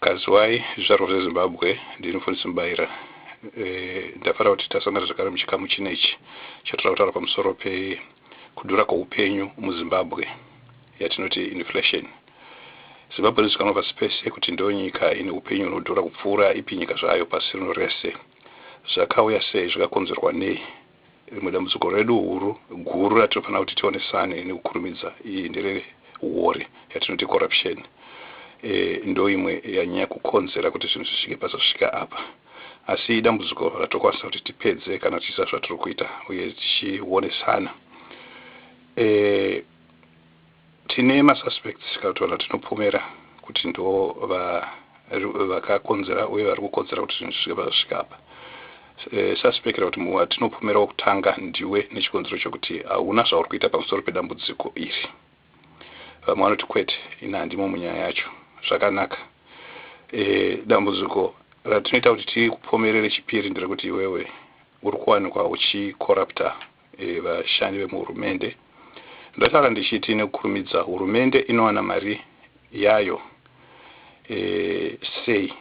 Kaziwai zvizvarwa zveZimbabwe, ndini Mfundisi Mubaira. E, ndafara kuti tasangana zvakare muchikamu chino ichi chatoda kutaura pamusoro pekudhura kweupenyu muZimbabwe yatinoti inflation. Zimbabwe inozikanwa pasi pese kuti ndiyo nyika ine upenyu hunodhura kupfuura ipi nyika zvayo pasi rino rese. Zvakauya sei? Zvakakonzerwa nei? Rimwe dambudziko redu huru guru ratinofanira kuti tionesane nekukurumidza iyi ndere huwori yatinoti corruption. E, ndoimwe yanyanya kukonzera kuti zvinhu zvisvike pazvasvika apa. Asi idambudziko ratokwanisa kuti tipedze kana tichiziva zvatiri kuita uye tichionesana. E, Tine ma suspects tikataura tinopomera kuti ndivo vakakonzera uye vari kukonzera kuti zvinhu zvisvike pazvasvika apa. Eh, suspect kuti watinopomera wokutanga ndiwe nechikonzero chokuti hauna zvauri kuita pamusoro pedambudziko iri. Vamwe vanoti kwete, ini handimo munyaya yacho. Zvakanaka. Eh, dambudziko ratinoita kuti tikupomerere chipiri nderekuti iwewe uri kuwanikwa uchikorapta vashandi vemuhurumende. Ndataura ndichiti nekukurumidza hurumende inowana mari yayo e, sei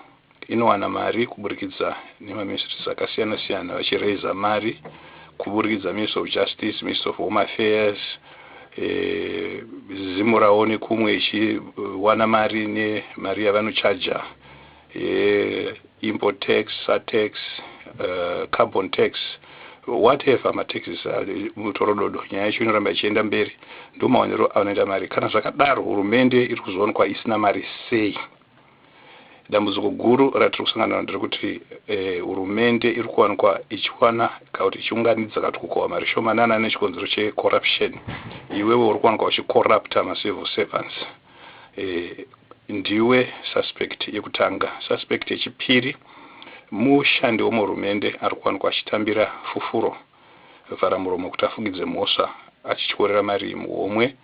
inowana mari kuburikidza nemaministries akasiyana siyana vachiraiza mari kuburikidza ministry of justice ministry of home affairs eh, zimurawo nekumwe ichiwana mari nemari yavanochaja uh, import tax satax uh, carbon tax whatever mataxes mutorododo nyaya yacho inoramba ichienda mberi ndo maonero anoita mari kana zvakadaro hurumende iri kuzoonekwa isina mari sei dambudziko guru ratiri kusangana naro nderekuti eh, hurumende iri kuwanikwa ichiwana kana kuti ichiunganidza kana kuti kukohwa mari shomanana nechikonzero checorruption iwewe uri kuwanikwa uchicorrupta macivil servants eh, ndiwe suspect yekutanga suspect yechipiri mushandi wemuhurumende ari kuwanikwa achitambira fufuro vhara muromo kuti afugidze mhosva achityorera mari muhomwe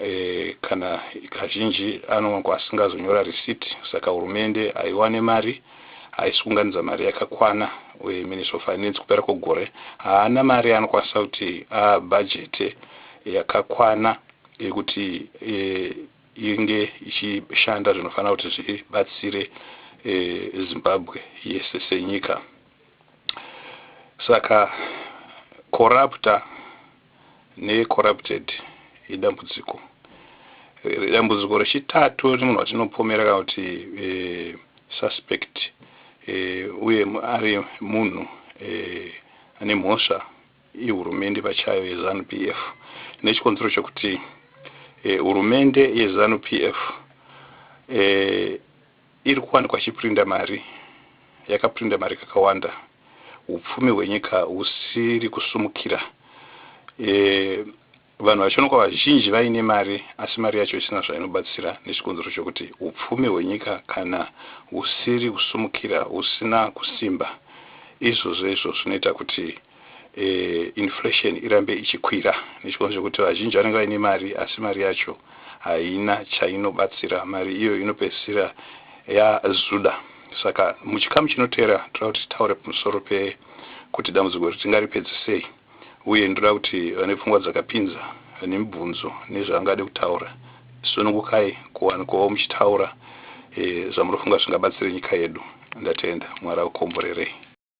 e, kana kazhinji anowanikwa asingazonyora risiti saka hurumende haiwane mari haisi kunganidza mari yakakwana uye minister of finance kupera kwegore haana mari anokwanisa kuti abhajete yakakwana iri kuti inge ichishanda zvinofanira kuti zvibatsire Zimbabwe yese senyika. Saka corrupter ne corrupted idambudziko. Dambudziko rechitatu remunhu watinopomera kana kuti suspect uye ari munhu ane mhosva ihurumende pachayo yezanu PF nechikonzero chokuti e, hurumende yezanu PF e, eh, iri kuwanikwa chiprinda mari yakaprinda mari kakawanda upfumi hwenyika husiri kusumukira e, Vanhu vaChonokwa vazhinji vaine mari asi mari yacho isina zvainobatsira nechikonzero chokuti upfumi hwenyika kana husiri kusumukira husina kusimba izvozvo izvo zvinoita kuti e, inflation irambe ichikwira nechikonzero chokuti vazhinji vanenge vaine mari asi mari yacho haina chainobatsira mari iyo inopedzisira yazuda saka muchikamu chinoteera toda kuti titaure pamusoro pekuti dambudziko iri tingaripedze sei uye ndoda kuti vane pfungwa dzakapinza vane mibvunzo nezvaangade kutaura sunungukai kuwanikawo muchitaura e, zvamunofunga zvingabatsire nyika yedu ndatenda mwari akukomborerei